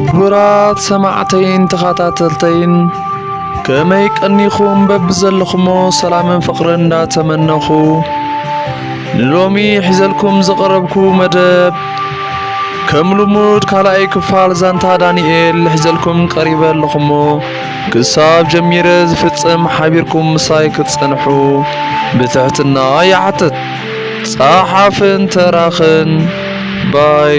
ክቡራት ሰማዕተይን ተኸታተልተይን ከመይ ቀኒኹም በብዘለኹሞ ሰላምን ፍቕርን እንዳተመነኹ ንሎሚ ሒዘልኩም ዝቐረብኩ መደብ ከም ልሙድ ካልኣይ ክፋል ዛንታ ዳንኤል ሒዘልኩም ቀሪበ ኣለኹሞ ክሳብ ጀሚረ ዝፍጽም ሓቢርኩም ምሳይ ክትጸንሑ ብትሕትና ይሓትት። ጸሓፍን ተራኽን ባይ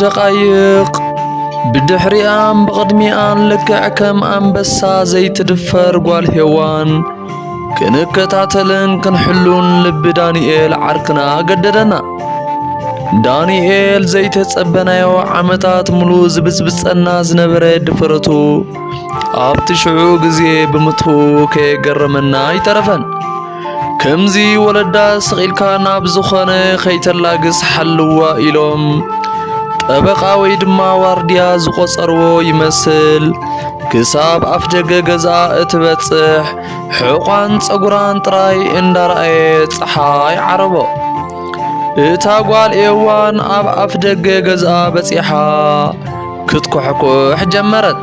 ደቓይቕ ብድሕሪኣን ብቕድሚኣን ልክዕ ከም ኣንበሳ ዘይትድፈር ጓል ሄዋን ክንከታተልን ክንሕሉን ልቢ ዳንኤል ዓርክና ገደደና። ዳንኤል ዘይተጸበናዮ ዓመታት ሙሉእ ዝብጽብጸና ዝነበረ ድፍረቱ ኣብቲ ሽዑ ግዜ ብምትኡ ከየገረመና ኣይተረፈን። ከምዚ ወለዳ ስቒልካ ናብ ዝኾነ ከይተላግስ ሓልዋ ኢሎም ጠበቓ ወይ ድማ ዋርድያ ዝቖጸርዎ ይመስል ክሳብ ኣፍ ደገ ገዝኣ እትበጽሕ ሕቋን ጸጉራን ጥራይ እንዳረኣየ ፀሓይ ዓረቦ። እታ ጓል ኤዋን ኣብ ኣፍ ደገ ገዝኣ በጺሓ ክትኮሕኩሕ ጀመረት።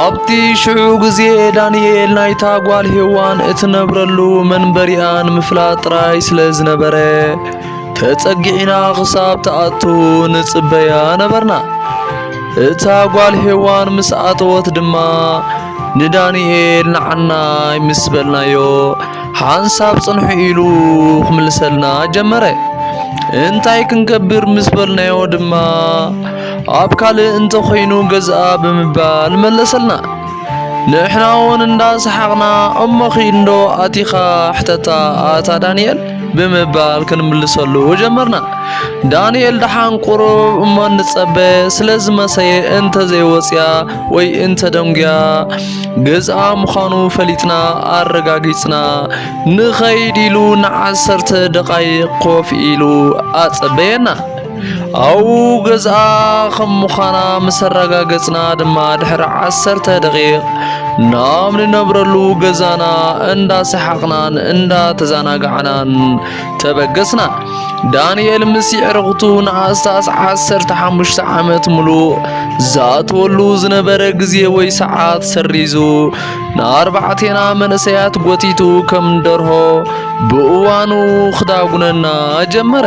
ኣብቲ ሽዑ ግዜ ዳንኤል ናይታ ጓል ሄዋን እትነብረሉ መንበሪኣ ንምፍላጥ ጥራይ ስለ ዝነበረ ተጸጊዕና ክሳብ ትኣቱ ንጽበያ ነበርና። እታ ጓል ሄዋን ምስ ኣተወት ድማ ንዳንኤል ንዓናይ ምስ በልናዮ ሓንሳብ ጽንሑ ኢሉ ክምልሰልና ጀመረ። እንታይ ክንገብር ምስ በልናዮ ድማ ኣብ ካልእ እንተኾይኑ ገዝኣ ብምባል መለሰልና። ንሕና እውን እንዳሰሓቕና እሞኺ እንዶ ኣቲኻ ሕተታ ኣታ ዳንኤል ብምባል ክንምልሰሉ ጀመርና። ዳንኤል ደሓን ቁሩብ እሞ እንጸበ ስለ ዝመሰየ እንተዘይወጽያ ወይ እንተ ደንጉያ ገዝኣ ምዃኑ ፈሊጥና ኣረጋጊጽና ንኸይድ ኢሉ ንዓሰርተ ደቓይቕ ኮፍ ኢሉ ኣጸበየና። ኣው ገዝኣ ከም ምዃና ምስ ኣረጋገጽና ድማ ድሕሪ ዓሰርተ ደቂቕ ናብ ንነብረሉ ገዛና እንዳሰሓቕናን እንዳተዘናጋዕናን ተበገስና። ዳንኤል ምስ የዕርኽቱ ንኣስታስ ዓሰርተ ሓሙሽተ ዓመት ምሉእ ዝኣትወሉ ዝነበረ ግዜ ወይ ሰዓት ሰሪዙ ንኣርባዕቴና መንእሰያት ጎቲቱ ከም ደርሆ ብእዋኑ ክዳጉነና ጀመረ።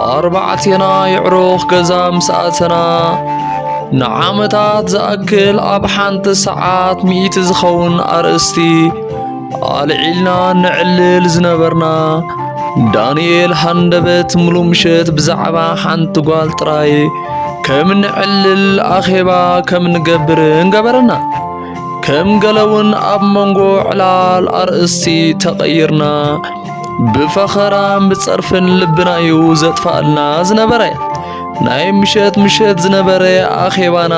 ኣርባዕቴና የዕሩኽ ገዛ ምስ ኣተና ንዓመታት ዝኣክል ኣብ ሓንቲ ሰዓት ሚእቲ ዝኸውን ኣርእስቲ ኣልዒልና ንዕልል ዝነበርና ዳንኤል ሃንደበት ሙሉ ምሸት ብዛዕባ ሓንቲ ጓል ጥራይ ከም ንዕልል ኣኼባ ከም ንገብርን ገበረና። ከም ገለውን ኣብ መንጎ ዕላል ኣርእስቲ ተቐይርና ብፈኸራን ብጸርፍን ልብና እዩ ዘጥፋኣልና ዝነበረ ናይ ምሸት ምሸት ዝነበረ ኣኼባና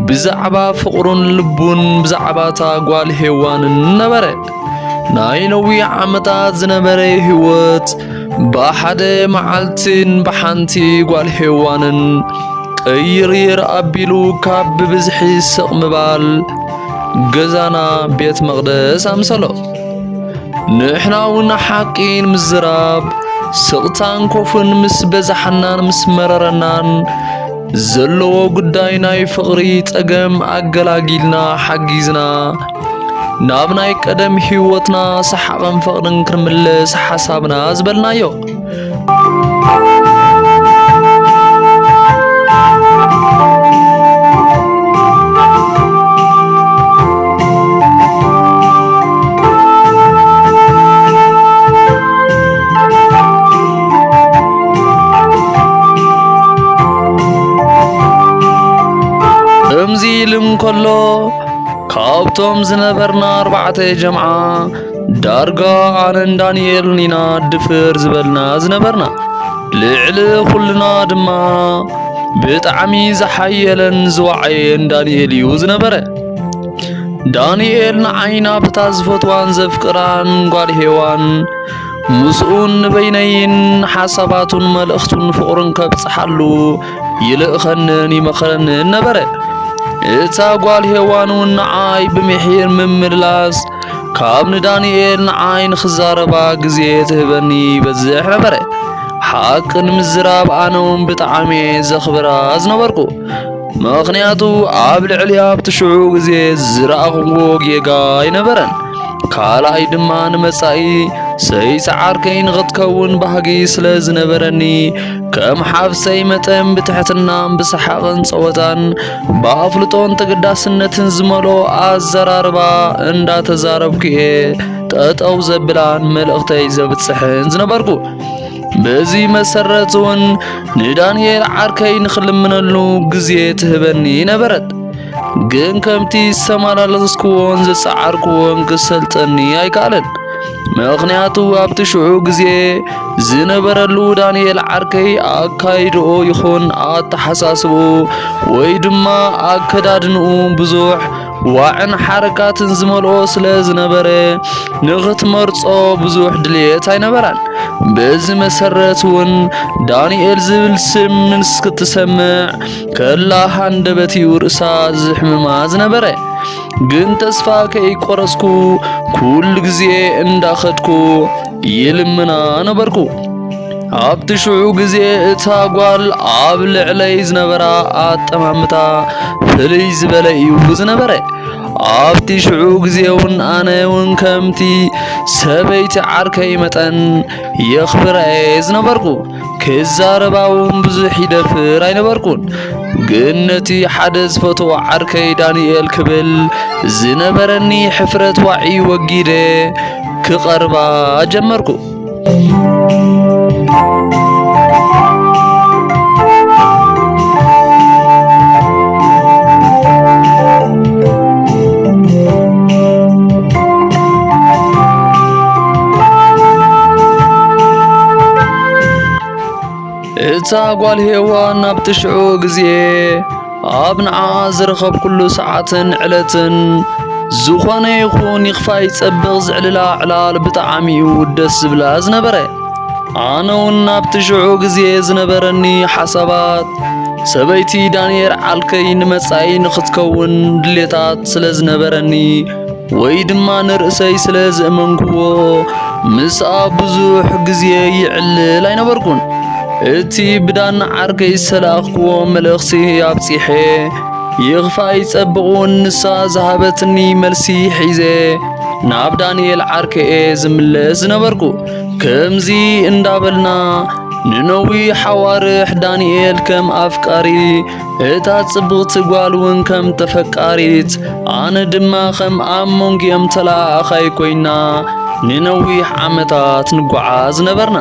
ብዛዕባ ፍቕሩን ልቡን ብዛዕባ እታ ጓል ሄዋንን ነበረ ናይ ነዊሕ ዓመታት ዝነበረ ህይወት ብሓደ መዓልትን ብሓንቲ ጓል ሄዋንን ቅይርይር ኣቢሉ ካብ ብብዝሒ ስቕ ምባል ገዛና ቤት መቕደስ ኣምሰሎ ንሕና እውን ሓቂ ንምዝራብ ስቕታን ኮፍን ምስ በዛሓናን ምስ መረረናን ዘለዎ ጉዳይ ናይ ፍቕሪ ጸገም ኣገላጊልና ሓጊዝና ናብ ናይ ቀደም ህይወትና ሰሓቕን ፍቕርን ክንምለስ ሓሳብና ዝበልናዮ ከምዚ ኢሉ እንከሎ ካብቶም ዝነበርና ኣርባዕተ ጀምዓ ዳርጋ ኣነን ዳንኤልን ኢና ድፍር ዝበልና ዝነበርና ልዕሊ ኹልና ድማ ብጣዕሚ ዝሓየለን ዝወዓየን ዳንኤል እዩ ዝነበረ ዳንኤል ንዓይና ብታ ዝፈትዋን ዘፍቅራን ጓል ሄዋን ምስኡን ንበይነይን ሓሳባቱን መልእኽቱን ፍቕሩን ከብጽሓሉ ይልእኸንን ይመኽረንን ነበረ እታ ጓል ሄዋን እውን ንዓይ ብምሒር ምምልላስ ካብ ንዳንኤል ንዓይ ንኽዛረባ ግዜ ትህበኒ ይበዝሕ ነበረ ሓቂ ንምዝራብ ኣነ እውን ብጣዕሚ ዘኽብራ ዝነበርኩ ምኽንያቱ ኣብ ልዕሊ ኣብቲ ሽዑ ግዜ ዝረኣኹዎ ጌጋ ኣይነበረን ካልኣይ ድማ ንመጻኢ ሰይሰዓርከይ ንኽትከውን ባህጊ ስለ ዝነበረኒ ከም ሓፍሰይ መጠን ብትሕትናን ብሰሓቕን ጸወታን ብኣፍልጦን ተገዳስነትን ዝመልኦ ኣዘራርባ እንዳተዛረብኩ እየ ጠጠው ዘብላን መልእኽተይ ዘብጽሕን ዝነበርኩ። በዚ መሰረት እውን ንዳንኤል ዓርከይ ንኽልምነሉ ግዜ ትህበኒ ነበረት። ግን ከምቲ ዝተመላለስክዎን ዝጸዓርክዎን ክሰልጠኒ ኣይከኣለን። ምኽንያቱ ኣብቲ ሽዑ ግዜ ዝነበረሉ ዳንኤል ዓርከይ ኣካይድኦ ይኹን ኣተሓሳስብኡ ወይ ድማ ኣከዳድንኡ ብዙሕ ዋዕን ሓረጋትን ዝመልኦ ስለ ዝነበረ ንኽትመርጾ ብዙሕ ድልየት ኣይነበራን። በዚ መሰረት እውን ዳንኤል ዝብል ስም ምስ ክትሰምዕ ከላ ሃንደበት እዩ ርእሳ ዝሕምማ ዝነበረ። ግን ተስፋ ከይቆረጽኩ ኩሉ ግዜ እንዳኸድኩ ይልምና ነበርኩ። ኣብቲ ሽዑ ግዜ እታ ጓል ኣብ ልዕለይ ዝነበራ ኣጠማምታ ፍልይ ዝበለ እዩ ዝነበረ። ኣብቲ ሽዑ ግዜ እውን ኣነ እውን ከምቲ ሰበይቲ ዓርከይ መጠን የኽብራ እየ ዝነበርኩ። ክዛረባ እውን ብዙሕ ይደፍር ኣይነበርኩን። ግን ነቲ ሓደ ዝፈትዎ ዓርከይ ዳንኤል ክብል ዝነበረኒ ሕፍረት ዋዒ ወጊደ ክቐርባ ጀመርኩ። እታ ጓል ሄዋን ኣብቲ ሽዑ ግዜ ኣብ ንዓኣ ዝረኸብኩሉ ሰዓትን ዕለትን ዝኾነ ይኹን ይኽፋይ ጸብቕ ዝዕልላ ዕላል ብጣዕሚ እዩ ደስ ዝብላ ዝነበረ ኣነ እውን ኣብቲ ሽዑ ግዜ ዝነበረኒ ሓሳባት ሰበይቲ ዳንኤል ዓልከይ ንመጻኢ ንኽትከውን ድሌታት ስለ ዝነበረኒ ወይ ድማ ንርእሰይ ስለ ዝእመንክዎ ምስኣ ብዙሕ ግዜ ይዕልል ኣይነበርኩን። እቲ ብዳን ዓርከይ ዝተላእኽክዎ መልእኽቲ ኣብጺሐ ይኽፋእ ይጸብቕውን ንሳ ዝሃበትኒ መልሲ ሒዘ ናብ ዳንኤል ዓርከየ ዝምለስ ዝነበርኩ። ከምዚ እንዳበልና ንነዊሕ ኣዋርሕ ዳንኤል ከም ኣፍቃሪ እታ ጽብቕቲ ጓል እውን ከም ተፈቃሪት ኣነ ድማ ኸም ኣብ መንጎኦም ተለኣኣኻይ ኮይና ንነዊሕ ዓመታት ንጓዓዝ ነበርና።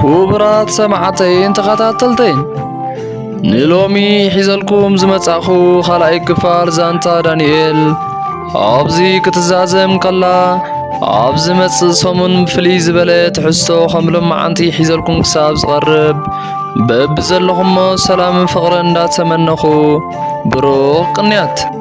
ክቡራት ሰማዕተይን ተኸታተልተይን ንሎሚ ሒዘልኩም ዝመጻእኹ ኻልኣይ ክፋል ዛንታ ዳንኤል ኣብዚ ክትዛዘም ከላ ኣብ ዝመጽእ ሰሙን ፍልይ ዝበለ ትሕዝቶ ከም ሎማዓንቲ ሒዘልኩም ክሳብ ዝቐርብ በብዘለኹሞ ሰላምን ፍቕርን እንዳተመነኹ ብሩኽ ቅንያት